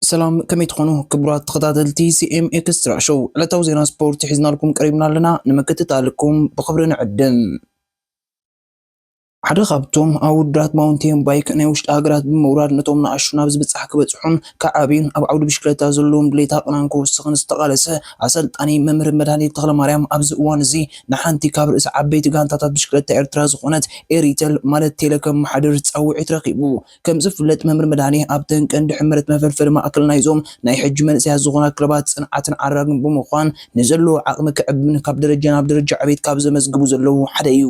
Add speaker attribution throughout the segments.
Speaker 1: ሰላም ከመይ ትኾኑ
Speaker 2: ክቡራት ተኸታተልቲ ሲኤም ኤክስትራ ሾው ዕለታዊ ዜና ስፖርት ሒዝናልኩም ቀሪብና ኣለና ንምክትታልኩም ብኽብሪ ንዕድም ሓደ ካብቶም ኣወዳት ማውንቴን ባይክ ናይ ውሽጢ ሃገራት ብምውራድ ነቶም ንኣሽቱ ናብ ዝብጻሕ ክበጽሑን ክዓብዩን ኣብ ዓውዲ ብሽክለታ ዘለዎም ድሌት ኣቕናን ክውስኽን ዝተቓለሰ ኣሰልጣኒ መምህር መድሃኔ ተኽለማርያም ኣብዚ እዋን እዚ ንሓንቲ ካብ ርእሰ ዓበይቲ ጋንታታት ብሽክለታ ኤርትራ ዝኾነት ኤሪተል ማለት ቴለ ከመሓድር ጻውዒት ረኺቡ ከምዝፍለጥ መምህር መድሃኔ ኣብተን ቀንዲ ሕመረት መፈልፈሊ ማእከል ናይዞም ናይ ሕጂ መንእሰያት ዝኾና ክለባት ጽንዓትን ዓራግን ብምዃን ንዘለዎ ዓቕሚ ክዕብን ካብ ደረጃ ናብ ደረጃ ዕቤት ካብ ዘመዝግቡ ዘለዉ ሓደ እዩ።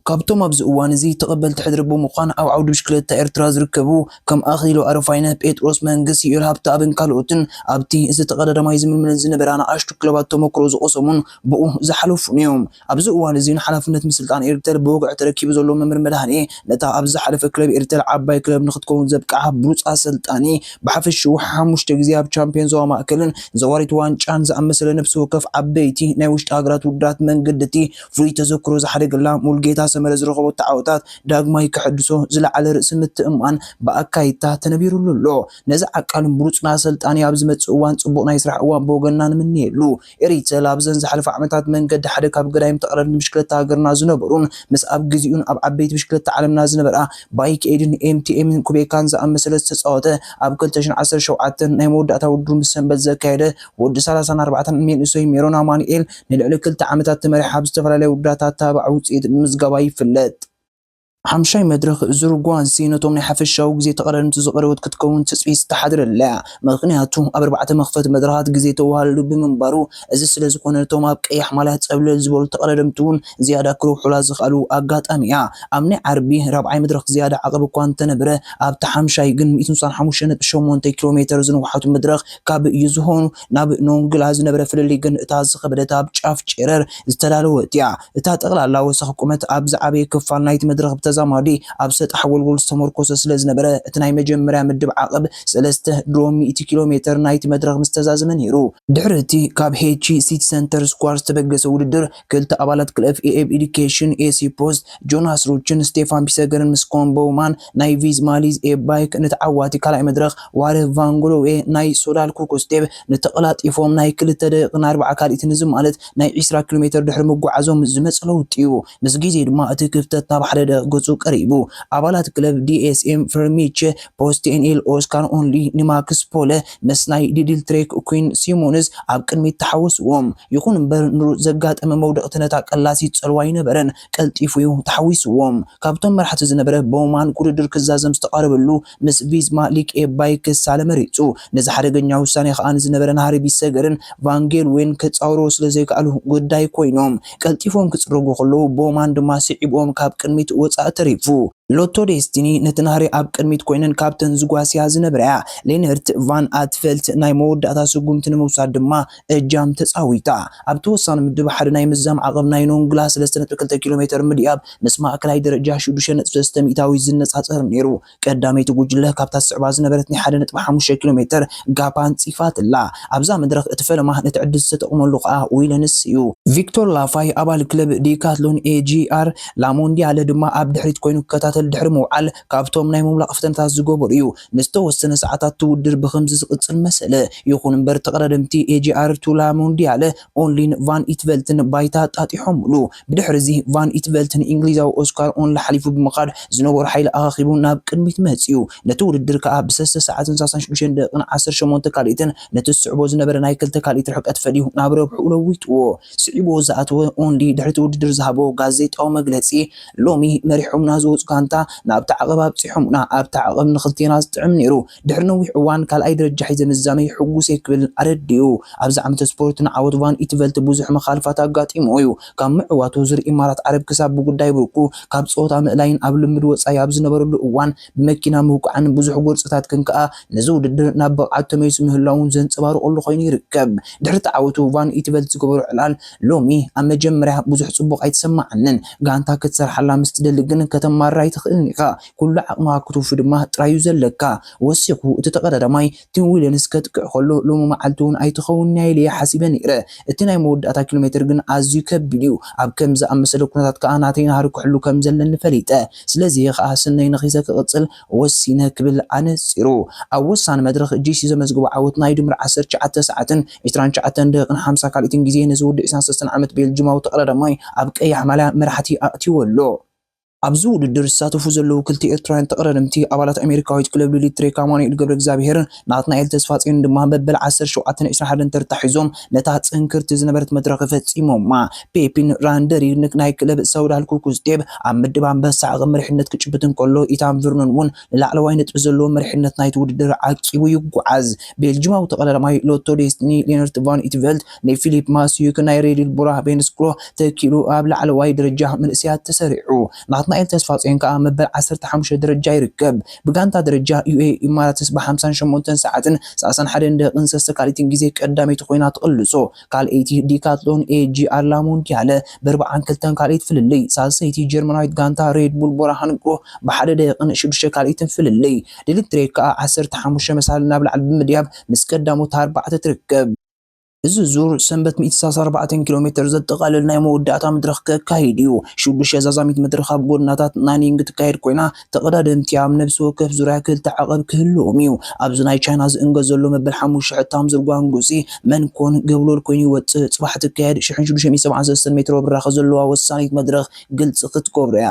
Speaker 2: ካብቶም ኣብዚ እዋን እዚ ተቐበልቲ ሕድሪ ብምዃን ኣብ ዓውዲ ብሽክለታ ኤርትራ ዝርከቡ ከም ኣኽሊሉ ኣረፋይነ፣ ጴጥሮስ መንግስ፣ ዩኤል ሃብተኣብን ካልኦትን ኣብቲ እዚ ተቐዳዳማይ ዝምልምለን ዝነበራ ንኣሽቱ ክለባት ተሞክሮ ዝቐሰሙን ብኡ ዝሓለፉን'ዮም። ኣብዚ እዋን እዚ ንሓላፍነት ምስልጣን ኤርተል ብወግዒ ተረኪቡ ዘሎ መምር መድሃኔ ነታ ኣብ ዝሓለፈ ክለብ ኤርተል ዓባይ ክለብ ንኽትከውን ዘብቅዓ ብሉጽ ኣሰልጣኒ ብሓፈሽኡ ሓሙሽተ ግዜ ኣብ ቻምፕዮን ዞባ ማእከልን ዘዋሪት ዋንጫን ዝኣመሰለ ነብሲ ወከፍ ዓበይቲ ናይ ውሽጢ ሃገራት ውድድራት መንገድቲ ፍሉይ ተዘክሮ ዝሓደገላ ሙሉጌታ ሰመረ ዝረኸበቶ ዓወታት ዳግማይ ከሐድሶ ዝለዓለ ርእሲ ምትእምማን ብኣካይድታ ተነቢሩሉ ኣሎ። ነዚ ዓቃልን ብሉጽን ኣሰልጣኒ ኣብ ዝመጽእ እዋን ጽቡቕ ናይ ስራሕ እዋን ብወገንና ንምነየሉ። Eritel ኣብዘን ዝሓለፋ ዓመታት መንገዲ ሓደ ካብ ገዳይም ተቐዳደምቲ ብሽክለታ ሃገርና ዝነበሩን ምስ ኣብ ግዚኡን ኣብ ዓበይቲ ብሽክለታ ዓለምና ዝነበራ Bike Aid ን MTM ን Quebec ን ዝኣመሰለ ዝተጻወተ ኣብ ክልተ ሽሕን ዓሰርተ ሸውዓተን ናይ መወዳእታ ውድድሩ ምስ ሰንበት ዘካየደ ወዲ ሰላሳን ኣርባዕተን ን መንእሰይ ሜሮን ኣማኑኤል ንልዕሊ ክልተ ዓመታት ተመሪሓ ኣብ ዝተፈላለያ ውድድራት ኣተባባዒ ውፅኢት ምምዝጋባ ይፍለጥ። ሓምሻይ መድረኽ ዙር ጓንሲ ነቶም ናይ ሓፈሻዊ ግዜ ተቐዳደምቲ ዝቐረበት ክትከውን ትፅቢት ዝተሓደረላ እያ። ምኽንያቱ ኣብ ኣርባዕተ መኽፈቲ መድረኻት ግዜ ተወሃልሉ ብምንባሩ። እዚ ስለዝኾነ እቶም ኣብ ቀያሕ ማልያ ፀብለል ዝበሉ ተቐዳደምቲ እውን ዝያዳ ክረብሑላ ዝኸኣሉ ኣጋጣሚ እያ። ኣብ ናይ ዓርቢ ራብዓይ መድረኽ ዝያዳ ዓቐብ እኳ እንተነበረ ኣብታ ሓምሻይ ግን ሚእትን ስሳን ሓሙሽተ ነጥቢ ሸሞንተ ኪሎ ሜተር ዝነውሓቱ መድረኽ ካብ ይዝሆኑ ናብ ኖንግላ ዝነበረ ፍልልይ ግን እታ ዝኸበደት ኣብ ጫፍ ጨረር ዝተዳለወት እያ። እታ ጠቕላላ ወሰኽ ቁመት ኣብ ዝዓበየ ክፋል ናይቲ መድረኽ ብተዛማዲ ኣብ ሰጣሕ ጎልጎል ዝተመርኮሰ ስለዝነበረ እቲ ናይ መጀመርያ ምድብ ዓቐብ ሰለስተ ድሮ ሚእቲ ኪሎ ሜተር ናይቲ መድረኽ ምስተዛዘመ ነይሩ። ድሕሪ እቲ ካብ ሄቺ ሲቲ ሰንተር ስኳር ዝተበገሰ ውድድር፣ ክልተ ኣባላት ክለብ ኤኤብ ኤዱኬሽን፣ ኤሲ ፖስት፣ ጆናስ ሩችን ስቴፋን ፒሰገርን ምስ ኮን ቦውማን ናይ ቪዝ ማሊዝ ኤብ ባይክ ንተዓዋቲ ካልኣይ መድረኽ ዋርህ ቫንግሎዌ ናይ ሶዳል ኩክስቴብ ንተቐላጢፎም ናይ ክልተ ደቂቕን ኣርባዓ ካልኢትን እዚ ማለት ናይ ዒስራ ኪሎሜተር ድሕሪ ምጉዓዞም ዝመጸ ለውጢ'ዩ። ምስ ግዜ ድማ እቲ ክፍተት ናብ ሓደደ ገጹ ቀሪቡ። ኣባላት ክለብ ዲኤስኤም ፍርሚቸ ፖስት ቴንኤል ኦስካር ኦንሊ ንማክስ ፖለ ምስ ናይ ዲዲል ትሬክ ኲን ሲሞንስ ኣብ ቅድሚት ተሓወስዎም። ይኹን እምበር ንሩት ዘጋጠመ መውደቕቲ ነታ ቀላሲት ጸልዋ ኣይነበረን፣ ቀልጢፉ'ዩ ተሓዊስዎም። ካብቶም መራሕቲ ዝነበረ ቦውማን ክውድድር ክዛዘም ዝተቓረበሉ ምስ ቪዝማ ሊክኤ ባይክ ክሳለ መሪጹ። ነዚ ሓደገኛ ውሳኔ ከኣ ንዝነበረ ናህሪ ቢሰገርን ቫን ጌልዌን ከጻውርዎ ስለ ዘይከኣሉ ግዳይ ኮይኖም። ቀልጢፎም ክጽረጉ ከለዉ ቦውማን ድማ ስዒብዎም ካብ ቅድሚት ወጻኢ ተሪፉ። ሎቶ ዴስቲኒ ነቲ ናህሪ ኣብ ቅድሚት ኮይነን ካብተን ዝጓስያ ዝነበራ'ያ ሌነርት ቫን ኣትቨልት ናይ መወዳእታ ስጉምቲ ንምውሳድ ድማ እጃም ተጻዊታ። ኣብቲ ወሳኒ ምድብ ሓደ ናይ ምዝዛም ዓቕብ ናይ ኖንግላ ሰለስተ ነጥቢ ክልተ ኪሎሜተር ምድያብ ምስ ማእከላይ ደረጃ ሽዱሽተ ነጥቢ ሰለስተ ሚእታዊት ዝነጻጸር ነይሩ። ቀዳመይቲ ጉጅለ ካብታ ትስዕባ ዝነበረት ናይ ሓደ ነጥቢ ሓሙሽተ ኪሎሜተር ጋፕ ኣንጺፋትላ። ኣብዛ መድረኽ እቲ ፈለማ ነቲ ዕድል ዝተጠቕመሉ ከኣ ዊለንስ'ዩ። ቪክቶር ላፋይ ኣባል ክለብ ዲካትሎን ኤጂኣር ላሞንዲያለ ድማ ኣብ ድሕሪት ኮይኑ ክከታተል ድሕሪ ምውዓል ካብቶም ናይ ምምላቕ ፈተነታት ዝገበሩ እዩ። ንዝተወሰነ ሰዓታት እቲ ውድድር ብኸምዚ ዝቕጽል መሰለ። ይኹን'ምበር ተቐዳደምቲ ኤጂኣርቱ ላሞንዲያለ፣ ኦንሊን ቫን ኢትቨልትን ባይታ ኣጣጢሖምሉ። ብድሕሪ'ዚ ቫን ኢትቨልት ንእንግሊዛዊ ኦስካር ኦንሊ ሓሊፉ ብምኻድ ዝነበሮ ሓይሊ ኣኻኺቡ ናብ ቅድሚት መጺኡ። ነቲ ውድድር ከኣ ብሰስተ ሰዓትን ሳሳን ሽዱሽተን ደቒቕን ዓሰርተ ሸሞንተ ካልኢትን ነቲ ዝስዕቦ ዝነበረ ናይ ክልተ ካልኢት ርሕቀት ፈሊዩ ናብ ረብሕኡ ለዊጥዎ። ስዒቡ ዝኣተወ ኦንዲ ድሕሪ'ቲ ውድድር ዝሃቦ ጋዜጣዊ መግለጺ፣ ሎሚ መሪሖምና ዝወጹ ጋንታ ናብ'ቲ ዓቐብ ኣብጺሖሙና፣ ኣብ'ቲ ዓቐብ ንኽልቴና ዝጥዕም ነይሩ፣ ድሕሪ ነዊሕ እዋን ካልኣይ ደረጃ ሒዘ ምዝዛመይ ሕጉስ'የ ክብል ኣረዲኡ። ኣብዚ ዓመተ ስፖርት ንዓወት ቫን ኢትቨልት ብዙሕ መኻልፋት ኣጋጢሙዎ'ዩ። ካብ ምዕዋቱ ዝርእ ኢማራት ዓረብ ክሳብ ብጉዳይ ብርኩ ካብ ጸወታ ምእላይን ኣብ ልምምድ ወጻኢ ኣብ ዝነበረሉ እዋን፣ ብመኪና ምውቃዕን ብዙሕ ጎርጽታትክን ከኣ ነዚ ውድድር ናብ ብቕዓት ተመሊሱ ምህላዉን ዘንጸባርቐሉ ኮይኑ ይርከብ። ድሕሪ እቲ ዓወቱ ቫን ኢትቨልት ዝገበሮ ዕላል፣ ሎሚ ኣብ መጀመርያ ብዙሕ ጽቡቕ ኣይተሰማዓንን። ጋንታ ክትሰርሓላ ምስ ትደሊ ግን ከተማርር ኣይትኽእልን ኢኻ። ኩሉ ዓቕምኻ ክትውፊ ድማ ጥራይ'ዩ ዘለካ። ወሲኹ እቲ ተቐዳዳማይ፣ ቲም ዊልንስ ከጥቅዕ ከሎ ሎሚ መዓልቲ'ውን ኣይትኸውንን'ያ ኢለ'የ ሓሲበ ነይረ። እቲ ናይ መወዳእታ ኪሎሜተር ግን ኣዝዩ ከቢድ'ዩ። ኣብ ከምዚ ዝኣመሰለ ኩነታት ከኣ ናተይ ናህሪ ክሕሉ ከም ዘለኒ ፈሊጠ። ስለዚ'የ ከኣ ስነይ ነኺሰ ክቕጽል ወሲነ ክብል ኣነጺሩ። ኣብ ወሳኒ መድረኽ ጂሲ ዘመዝገቦ ዓወት ናይ ድምር ዓሰርተ ትሽዓተ ሰዓትን ዕስራን ትሽዓተን ደቂቕን ሓምሳ ካልኢትን ግዜ ነዚ ወዲ ዕስራን ሰለስተን ዓመት ቤልጂማዊ ተቐዳዳማይ ኣብ ቀያሕ ማልያ መራሕቲ ኣእትይዎ ኣሎ። ኣብዚ ውድድር ዝሳተፉ ዘለዉ ክልተ ኤርትራውያን ተቐዳደምቲ ኣባላት ኣሜሪካዊት ክለብ ሉሊት ትሬክ ኣማኑኤል ገብረእግዚኣብሄርን ናትናኤል ተስፋጽዮንን ድማ መበል ዓሰርተ ሸውዓተን ዕስራን ሓደን ተርታ ሒዞም ነታ ጽንክርቲ ዝነበረት መድረኽ ፈጺሞማ። ፔፒን ራንደሪንግ ናይ ክለብ ሰውዳል ኩኩስ ዴብ ኣብ ምድብ ኣንበሳ ዓቐብ መሪሕነት ክጭብጥ እንከሎ፣ ኢታን ቨርኖን እውን ንላዕለዋይ ነጥቢ ዘለዎ መሪሕነት ናይቲ ውድድር ዓቂቡ ይጓዓዝ። ቤልጂማዊ ተቐዳዳማይ ሎቶ ዴስቲኒ ሌነርት ቫን ኢትቨልት፣ ንፊሊፕ ማስዩክ ናይ ሬድል ቡራ ቬንስክሮ ተኪኡ ኣብ ላዕለዋይ ደረጃ መንእሰያት ተሰሪዑ። ናትናኤል ተስፋጽዮን ከኣ መበል ዓሰርተ ሓሙሽተ ደረጃ ይርከብ። ብጋንታ ደረጃ ዩኤኢ ኢማራትስ ብ ሓምሳን ሸሞንተን ሰዓትን ሰላሳን ሓደን ደቂቕን ሰሰ ካልኢትን ግዜ ቀዳመይቲ ኮይና ትቕልሶ። ካልኣይቲ ዲካትሎን ኤጂኣር ላ ሞንዲያለ ብ ኣርብዓን ክልተን ካልኢት ፍልልይ። ሳልሰይቲ ጀርመናዊት ጋንታ ሬድ ቡል ቡራ ሃንግሮ ብ ሓደ ደቂቕን ሽዱሽተ ካልኢትን ፍልልይ። ድልንትሬክ ከኣ ዓሰርተ ሓሙሽተ መሳልል ናብ ላዕሊ ብምድያብ ምስ ቀዳሞት ኣርባዕተ ትርከብ። እዚ ዙር ሰንበት ሚእቲ ሰላሳ ኣርባዕተ ኪሎ ሜተር ዘጠቓልል ናይ መወዳእታ መድረኽ ከካይድ እዩ። ሽዱሽተ ዛዛሚት መድረኽ ኣብ ጎድናታት ናኒንግ ትካየድ ኮይና፣ ተቐዳደምቲ ኣብ ነብሲ ወከፍ ዙርያ ክልተ ዓቐብ ክህልዎም እዩ። ኣብዚ ናይ ቻይና ዝእንገድ ዘሎ መበል ሓሙሽተ ሕታም ዙር ጓንጉጺ መንኮን ገብሎል ኮይኑ ይወጽእ። ጽባሕ ትካየድ ሽሕን ሽዱሽተ ሚእቲ ሰብዓን ሰለስተን ሜትሮ ብራኸ ዘለዋ ወሳኒት መድረኽ ግልጺ ክትገብሮ እያ።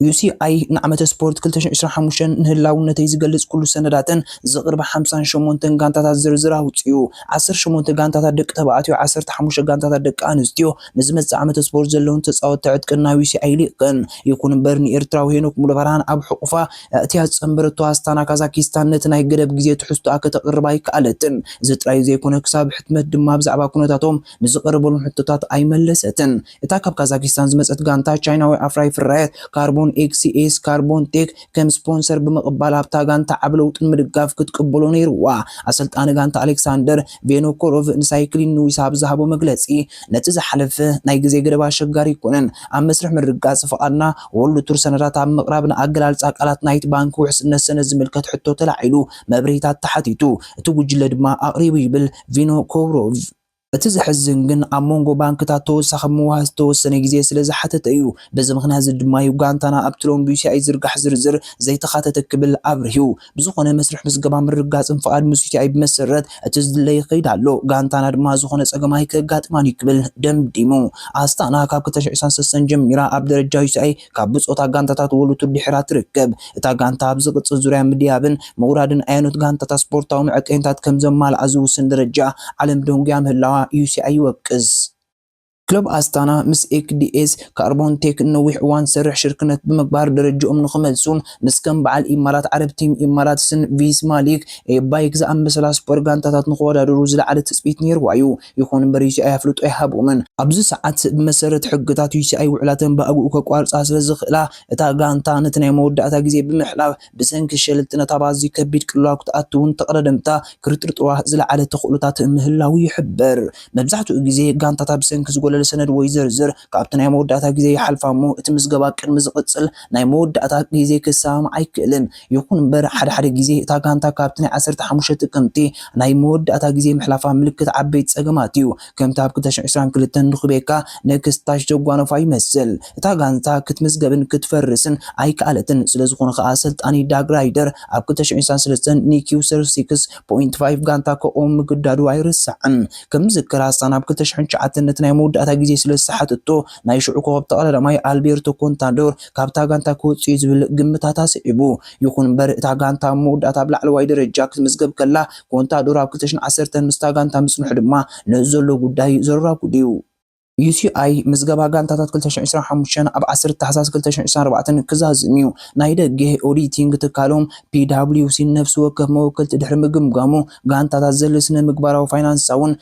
Speaker 2: ዩሲኣይ ንዓመተ ስፖርት ክልተ ሽሕን ዕስራን ሓሙሽተን ንህላውነተይ ዝገልጽ ኩሉ ሰነዳተን ዘቕርባ ሓምሳን ሸሞንተን ጋንታታት ዝርዝር ኣውጺኡ። ዓሰርተ ሸሞንተ ጋንታታት ደቂ ተባዕትዮ፣ ዓሰርተ ሓሙሽተ ጋንታታት ደቂ ኣንስትዮ ንዝመጽእ ዓመተ ስፖርት ዘለወን ተጻወትቲ ዕጥቂ ናብ ዩሲኣይ ልኢኸን። ይኹን'ምበር ንኤርትራዊ ሄኖክ ሙሉብርሃን ኣብ ሕቑፋ ኣእትያ ዝጸንበረቶ ኣስታና ካዛኪስታን ነቲ ናይ ገደብ ግዜ ትሕዝቶኣ ከተቕርብ ኣይከኣለትን። እዚ ጥራይ ዘይኮነ ክሳብ ሕትመት ድማ ብዛዕባ ኩነታቶም ንዝቐረበሎም ሕቶታት ኣይመለሰትን። እታ ካብ ካዛኪስታን ዝመጸት ጋንታ፣ ቻይናዊ ኣፍራዪ ፍርያት ካርቦን ኤክስኤስ ካርቦን ቴክ ከም ስፖንሰር ብምቕባል ኣብታ ጋንታ ዓቢ ለውጢ ንምድጋፍ ክትቅበሎ ነይሩዋ። ኣሰልጣኒ ጋንታ ኣሌክሳንደር ቬኖኮሮቭ ንሳይክሊን ኒውስ ኣብ ዝሃቦ መግለጺ፣ ነቲ ዝሓለፈ ናይ ግዜ ገደብ ኣሸጋሪ ኣይኮነን። ኣብ መስርሕ ምርግጋጽ ፍቓድና ዎርልድ ቱር ሰነዳት ኣብ ምቕራብ ንኣገላልጻ ቃላት ናይቲ ባንክ ውሕስነት ሰነድ ዝምልከት ሕቶ ተላዒሉ መብርሂታት ተሓቲቱ፣ እቲ ጉጅለ ድማ ኣቕሪቡ ይብል ቪኖኮሮቭ። እቲ ዘሕዝን ግን ኣብ መንጎ ባንክታት ተወሳኺ ምውሃ ዝተወሰነ ግዜ ስለ ዝሓተተ እዩ። በዚ ምኽንያት'ዚ ድማ'ዩ ጋንታና ኣብቲ ሎሚ ብዩቲኣይ ዝዝርጋሕ ዝርዝር ዘይተኻተተ ክብል ኣብሪሁ። ብዝኾነ መስርሕ ምዝገባ ምርግጋጽን ፍቓድ ምስ ዩቲኣይ ብመሰረት እቲ ዝድለ ይኸይድ ኣሎ። ጋንታና ድማ ዝኾነ ጸገም ኣይከጋጥማን'ዩ ክብል ደምዲሙ። ኣስታና ካብ ክልተ ሽሕ ዒስራን ሰሰን ጀሚራ ኣብ ደረጃ ዩቲኣይ ካብ ብጾታ ጋንታታት ወሉቱ ድሒራ ትርከብ። እታ ጋንታ ኣብ ዝቕጽል ዙርያ ምድያብን ምውራድን ኣየኖት ጋንታታት ስፖርታዊ መዐቀኒታት ከም ዘማልኣ ዝውስን ደረጃ ዓለም ደንጉያ ምህላዋ UCI ይወቅስ። ክለብ ኣስታና ምስ ኤክዲኤስ ካርቦንቴክ ንነዊሕ እዋን ዝሰርሕ ሽርክነት ብምግባር ደረጅኦም ንኽመልሱን ምስ ከም በዓል ኢማራት ዓረብ ቲም ኢማራትስን ቪስማ ሊግ ኤ ባይክ ዝኣመሰላ ስፖር ጋንታታት ንኽወዳደሩ ዝለዓለ ትጽቢት ነይርዋ'ዩ። ይኹን እምበር ዩሲኣይ ኣፍልጦ ኣይሃብኦምን። ኣብዚ ሰዓት ብመሰረት ሕግታት ዩሲኣይ ውዕላተን ብኣግኡ ከቋርጻ ስለዝኽእላ፣ እታ ጋንታ ነቲ ናይ መወዳእታ ግዜ ብምሕላፍ ብሰንኪ ሸለልትነት ኣብ ኣዝዩ ከቢድ ቅልውላው ክትኣቱን ተቐዳደምታ ክርጥርጥሩዋ ዝለዓለ ተኽእሎታት ምህላዉ ይሕበር። መብዛሕትኡ ግዜ ጋንታታት ብሰንኪ ዝጎለለ ሰነድ ወይ ዝርዝር ካብቲ ናይ መወዳእታ ግዜ ይሓልፋ'ሞ እቲ ምዝገባ ቅድሚ ዝቕጽል ናይ መወዳእታ ግዜ ክሰማማዕ ኣይክእልን። ይኹን እምበር፣ ሓደ ሓደ ግዜ እታ ጋንታ ካብቲ ናይ ዓሰርተ ሓሙሽተ ጥቅምቲ ናይ መወዳእታ ግዜ ምሕላፋ ምልክት ዓበይቲ ጸገማት እዩ። ከምቲ ኣብ ክልተ ሽሕን ዕስራን ክልተን ንኩቤካ ነክስት ታች ዘጓነፋ ይመስል። እታ ጋንታ ክትምዝገብን ክትፈርስን ኣይከኣለትን፣ ስለዝኾነ ከኣ ኣሰልጣኒ ዳግ ራይደር ኣብ ክልተ ሽሕን ዕስራን ሰለስተን ንኪው ሰር ሲክስ ፖይንት ፋይቭ ጋንታ ከቑም ምግዳዱ ኣይርሳዕን። ከም ዝዝከር ሃሳን ኣብ ክልተ ሽሕን ትሽዓተን ነቲ ናይ መወዳእታ ግዜ ስለዝሰሓተቶ ናይ ሽዑ ኮኸብ ተቐዳዳማይ ኣልቤርቶ ኮንታዶር ካብታ ጋንታ ክወጽእ'ዩ ዝብል ግምታት ኣስዒቡ። ይኹን'ምበር እታ ጋንታ ኣብ መወዳእታ ኣብ ላዕለዋይ ደረጃ ክትምዝገብ ከላ፣ ኮንታዶር ኣብ ክልተ ሽሕን ዓሰርተን ምስታ ጋንታ ምጽንሑ ድማ ነዚ ዘሎ ጉዳይ ዘራጉድ'ዩ። ዩሲኣይ ምዝገባ ጋንታታት ክልተ ሽሕን ዕስራን ሓሙሽተን ኣብ ዓሰርተ ታሕሳስ ክልተ ሽሕን ዕስራን ኣርባዕተን ክዛዝም'ዩ። ናይ ደገ ኦዲቲንግ ትካሎም ፒዳብሊውሲ ንነፍሲ ወከፍ መወከልቲ ድሕሪ ምግምጋሙ፣ ጋንታታት ዘድሊ ስነ-ምግባራዊ፣ ፋይናንሳውን፣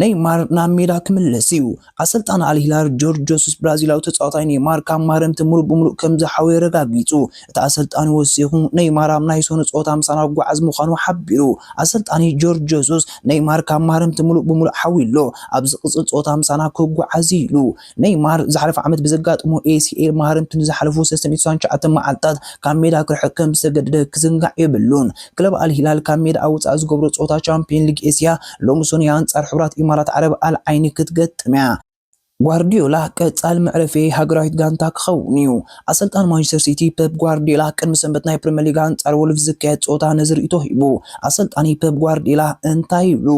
Speaker 2: ነይማር ናብ ሜዳ ክምለስ እዩ። ኣሰልጣኒ ኣል ሂላል ጆርጅ ጆሱስ ብራዚላዊ ተጻዋታይ ነይማር ካብ ማረምቲ ምሉእ ብምሉእ ከም ዝሓወየ ኣረጋጊጹ። እቲ ኣሰልጣኒ ወሲኹ ነይማር ኣብ ናይ ሰኑይ ጸወታ ምሳና ክጓዓዝ ምዃኑ ሓቢሩ። ኣሰልጣኒ ጆርጅ ጆሱስ፣ ነይማር ካብ ማረምቲ ምሉእ ብምሉእ ሓውዩ ኣሎ፣ ኣብ ዝቕጽል ጸወታ ምሳና ክጓዓዝ እዩ ኢሉ። ነይማር ዝሓለፈ ዓመት ብዘጋጠሞ ACL ማህረምቲ ንዝሓለፉ ሰለስተን ሚእትን ሰሳን ትሽዓተን መዓልታት ካብ ሜዳ ክርሕቕ ከምዝተገደደ ክዝንጋዕ የብሉን። ክለብ ኣል ሂላል ካብ ሜዳ ኣብ ወጻኢ ዝገብሮ ጸወታ ቻምፕዮን ሊግ ኤስያ ሎሚ ሰኑይ ኣንጻር ሕብራት ኢማራት ዓረብ ኣል ዓይኒ ክትገጥም'ያ። ጓርድዮላ ቀጻሊ መዕረፊየይ ሃገራዊት ጋንታ ክኸውን'ዩ። ኣሰልጣኒ ማንቸስተር ሲቲ ፐፕ ጓርድዮላ ቅድሚ ሰንበት ናይ ፕሪመር ሊግ ኣንጻር ወልቭስ ዝካየድ ጸወታ ነዚ ርእይቶ ሂቡ። ኣሰልጣኒ ፐፕ ጓርድዮላ እንታይ ይብሉ?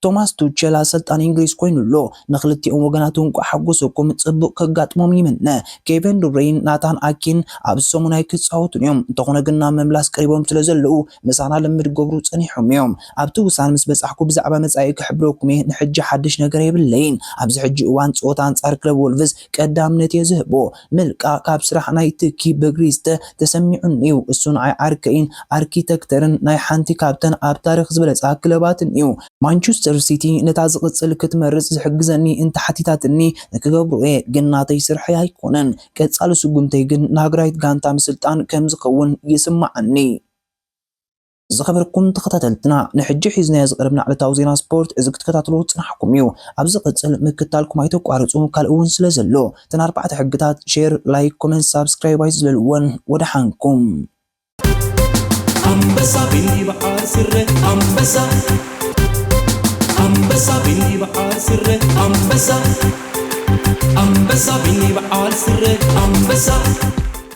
Speaker 2: ቶማስ ቱቸል ኣሰልጣኒ እንግሊዝ ኮይኑ ኣሎ። ንክልቲኦም ወገናት እንቋዕ ሓጎሰኩም ጽቡቅ ከጋጥሞም ይምነ። ኬቨን ዱብረይን ናታን ኣኬን ኣብዚ ሰሙን ኣይክጻወቱን እዮም፣ እንተኾነ ግን ናብ ምምላስ ቀሪቦም ስለ ዘለዉ ምሳና ልምምድ ክገብሩ ጸኒሖም እዮም። ኣብቲ ውሳነ ምስ በጻሕኩ ብዛዕባ መጻኢ ክሕብረኩም እየ፣ ንሕጂ ሓድሽ ነገር የብለይን። ኣብዚ ሕጂ እዋን ጸወታ ኣንጻር ክለብ ወልቭስ ቀዳምነት እየ ዝህቦ። ምልቃቕ ካብ ስራሕ ናይ ትኪ በግሪ ዝተ ተሰሚዑኒ'ዩ። እሱ ንዓይ ዓርከይን ኣርኪተክተርን ናይ ሓንቲ ካብተን ኣብ ታሪኽ ዝበለጻ ክለባትን'ዩ። ማንቹስተር ሲቲ ነታ ዝቕጽል ክትመርጽ ዝሕግዘኒ እንተሓቲታትኒ ንክገብሮ'የ፣ ግን ናተይ ስርሐይ ኣይኮነን። ቀጻሊ ስጉምተይ ግን ንሃገራዊት ጋንታ ምስልጣን ከም ዝኸውን ይስመዓኒ። ዝኸበርኩም ተኸታተልትና ንሕጂ ሒዝናዮ ዝቐረብና ዕለታዊ ዜና ስፖርት እዚ ክትከታተልዎ ዝጸናሕኩም እዩ። ኣብ ዝቕጽል ምክታልኩም ኣይተቋርጹ ካልእ እውን ስለ ዘሎ። እተን ኣርባዕተ ሕግታት ሼር፣ ላይክ፣ ኮመንት፣ ሳብስክራይብ ኣይትዝለልወን። ወደሓንኩም። ኣንበሳ ብይብዓር ስረ ኣንበሳ ኣንበሳ ብይብዓር ስረ ኣንበሳ ኣንበሳ ብይብዓር ስረ ኣንበሳ